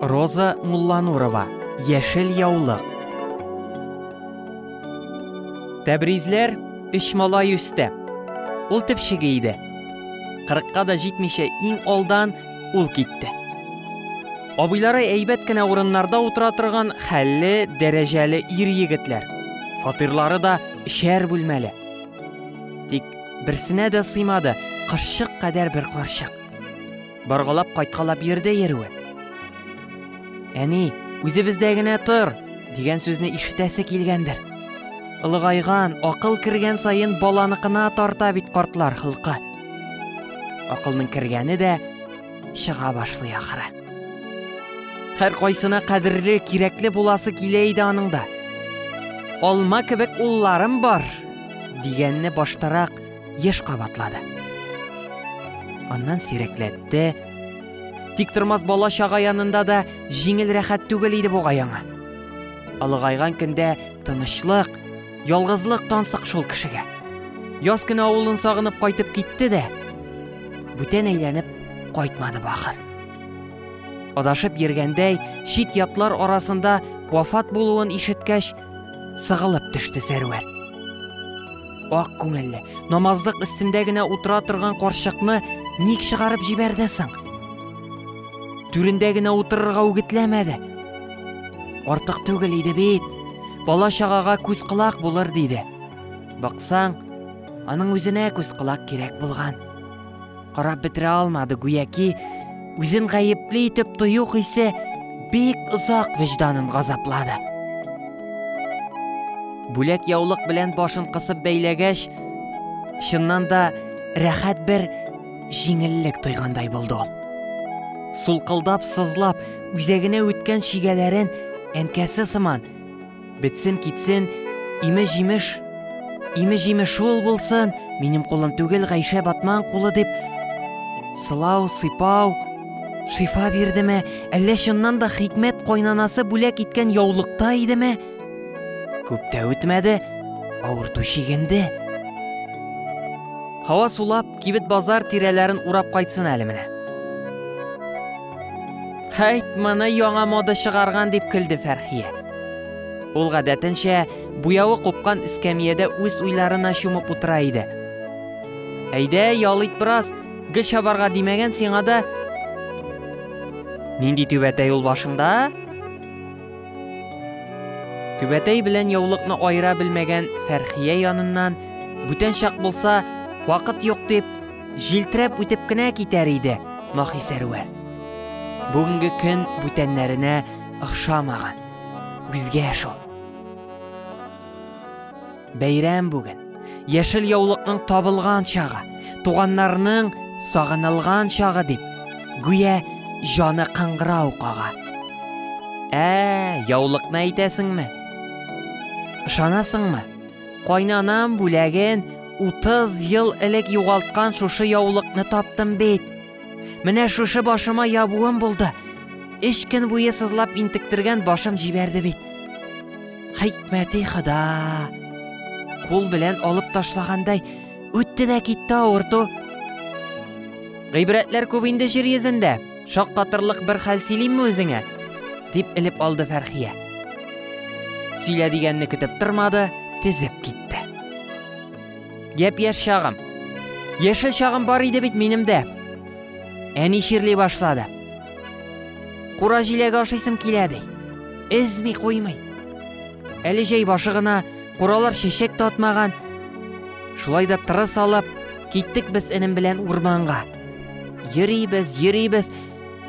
Роза Мулланурова, Яшел яулык. Тәбризләр өч малай үсте. Ул төпчеге иде. Кырыкка да җитмичә иң алдан ул китте. Абыйлары әйбәт кенә урыннарда утыра торган хәлле, дәрәҗәле ир егетләр. Фатирлары да өчәр бүлмәле. Тик берсенә дә сыймады, кырчык кадәр бер карчык. Боргалап кайткалап йөрде йөрүе. Әни, үзебездә генә тор, дигән сүзне ишетәсе килгәндер. Ылыгайган, акыл кергән саен баланыкына тарта бит картлар хылкы. Акылның кергәне дә чыга башлый ахыры. Һәр кайсына кадерле, кирәкле буласы килә иде аның да. Алма кебек улларым бар, дигәнне баштарак еш кабатлады. Аннан сирәкләтте. Тик тормас бала чага янында да җиңел рәхәт түгел иде буга яңа. Алыгайган көндә тынычлык, ялгызлык тансык шул кешегә. Яз көне авылын сагынып кайтып китте дә, бүтән әйләнеп кайтмады бахыр. Адашып йөргәндәй, чит ятлар арасында вафат булуын ишеткәч, Сыгылып төште Сәрвәр. Ак күңелле, намазлык өстендә генә утыра торган карчыкны ник чыгарып җибәрде соң? Түрендә генә утырырга үгетләмәде. Артык түгел иде бит. Бала чагага күз колак булыр диде. Баксаң, аның үзенә күз колак кирәк булган. Карап бетерә алмады, гүяки үзен гаепле итеп тою хисе бик озак вөҗданын газаплады. Бүләк яулык белән башын кысып бәйләгәч, чыннан да рәхәт бер җиңеллек тойгандай булды ул. Сулкылдап, сызлап, үзәгенә үткән чигәләрен әнкәсе сыман Бетсен китсен, име-җимеш. Име-җимеш шул булсын, минем кулым түгел, Гайшә Батман кулы дип сылау, сыйпау, шифа бирдеме, әллә чыннан да хикмәт кайнанасы бүләк иткән яулыкта идеме? Күп тә үтмәде, авырту чигенде. Һава сулап, кибет базар тирәләрен урап кайтсын әле менә. Хәйт, моны яңа мода чыгарган, дип көлде Фәрхия. Ул гадәтенчә буявы купкан эскәмиядә үз уйларына чумып утыра иде. Әйдә, ял ит бераз, гел чабарга димәгән сиңа да. Нинди түбәтәй ул башыңда? Түбәтәй белән яулыкны аера белмәгән Фәрхия яныннан, бүтән чак булса, вакыт юк дип, Җилтерәп үтеп кенә китәр иде Махи Сәрвәр. Бүгенге көн бүтәннәренә охшамаган. Үзгә шул. Бәйрәм бүген. Яшел яулыкның табылган чагы, туганнарның сагынылган чагы дип, гүя җаны кыңгырау кага. Ә, яулыкны әйтәсеңме? Ышанасыңмы? Кайнанам бүләген 30 ел элек югалткан шушы яулыкны таптым бит. Менә шушы башыма ябуым булды. Эш көн буе сызлап интектергән башым җибәрде бит. Хикмәти хада. Кул белән алып ташлагандай үтте дә китте авырту. Гыйбрәтләр күп инде җир йөзендә. Шаккатырлык бер хәл сөйлимме үзеңә? дип элеп алды Фәрхия. Сөйлә дигәнне көтеп тормады, тезеп китте. Гәп яшь чагым. Яшел чагым бар иде бит минем дә. Әни чирли башлады. Кура җиләге ашыйсым килә ди. Эзми куймый. Әле җәй башы гына, куралар чәчәк татмаган. Шулай да тырыс алып, киттек без энем белән урманга. Йөрибез, йөрибез.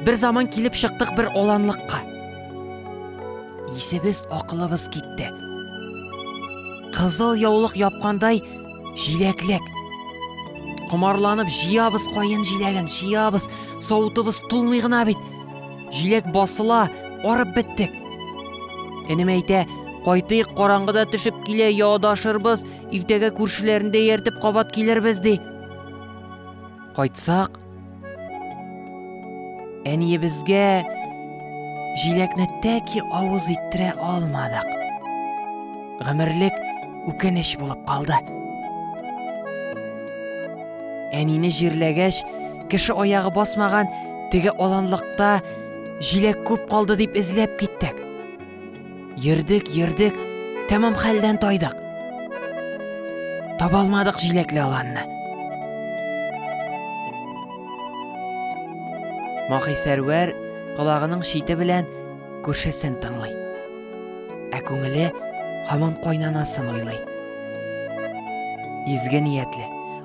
Бер заман килеп чыктык бер оланлыкка. Исебез, акылыбыз китте. Кызыл яулык япкандай җиләклек. Комарланып җыябыз каен җиләген, җыябыз. Савытыбыз тулмый гына бит. Җиләк басыла, арып биттек. Энем әйтә, кайтыйк, караңгыда төшеп килә, яодашырбыз, иртәгә күршеләрендә ияртеп кабат килербез ди. Кайтсак, әниебезгә җиләкне тәки авыз иттерә алмадык. Гомерлек үкенеч булып калды. Әнине җирләгәч, кеше аягы басмаган теге аланлыкта җиләк күп калды дип эзләп киттек. Йөрдек, йөрдек, тәмам хәлдән тайдык. Табалмадык җиләкле аланны. Махи Сәрвәр колагының шите белән күршесен тыңлый. Ә күңеле һаман кайнанасын уйлый. Изге ниятле,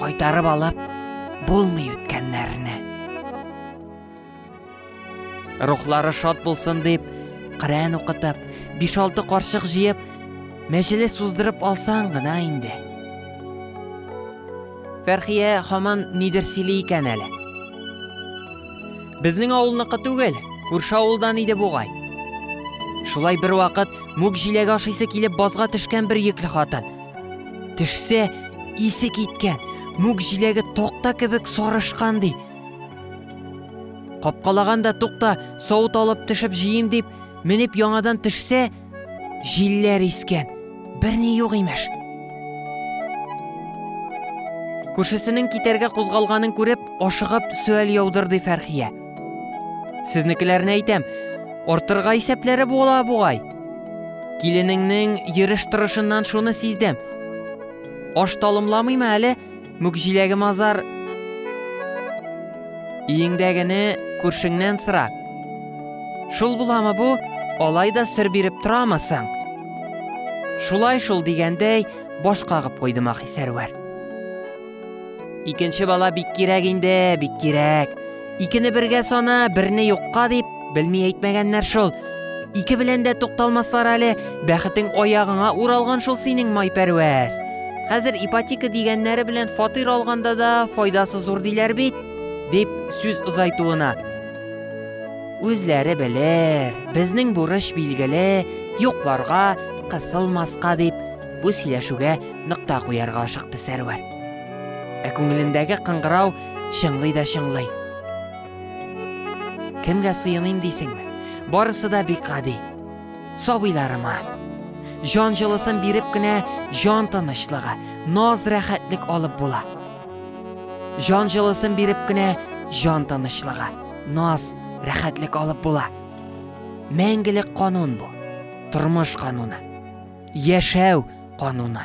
Кайтарып алып булмый үткәннәрне. Рухлары шат булсын дип, Коръән укытып, 5-6 карчык җыеп, мәҗлес уздырып алсаң гына инде. Фәрхия хаман нидер сөйли икән әле. Безнең авылныкы түгел, күрше авылдан иде бугай. Шулай бер вакыт мүк җиләге ашыйсы килеп базга төшкән бер йөкле хатын. Төшсә, исе киткән, мүк җиләге токта кебек сарышкан ди. Капкалаганда тукта, савыт алып төшеп җыйм дип, менеп яңадан төшсә, җилләр искән, берни юк имеш. Күршесенең китәргә кузгалганын күреп, ашыгып сөаль яудырды Фәрхия. Сезнекеләрне әйтәм, артырга исәпләре була бугай. Киленеңнең йөреш торышыннан шуны сиздем. Аш талымламыймы әле мүкҗиләге мазар? Иеңдәгене күршеңнән сыра. Шул буламы бу? Алай да сер биреп торамы соң? Шулай шул дигәндәй баш кагып куйды Махи Сәрвәр. Икенче бала бик кирәк инде, бик кирәк. Икене бергә сана, берне юкка дип, белми әйтмәгәннәр шул. Ике белән дә тукталмаслар әле, бәхетең аягыңа уралган шул синең майпәрвәз. Хәзер ипотека дигәннәре белән фатир алганда да файдасы зур диләр бит, дип сүз озайтуына. Үзләре белер, безнең бурыч билгеле, юкларга кысылмаска дип бу сөйләшүгә нокта куярга ашыкты Сәрвәр. Ә күңелендәге кыңгырау чыңлый да чыңлый. Кемгә сыеныйм дисеңме? Барысы да бик гади. Сабыйларыма. Җан җылысын биреп кенә җан тынычлыгы, наз рәхәтлек алып була. Җан җылысын биреп кенә җан тынычлыгы, наз рәхәтлек алып була. Мәңгелек канун бу. тормыш кануны, яшәү кануны.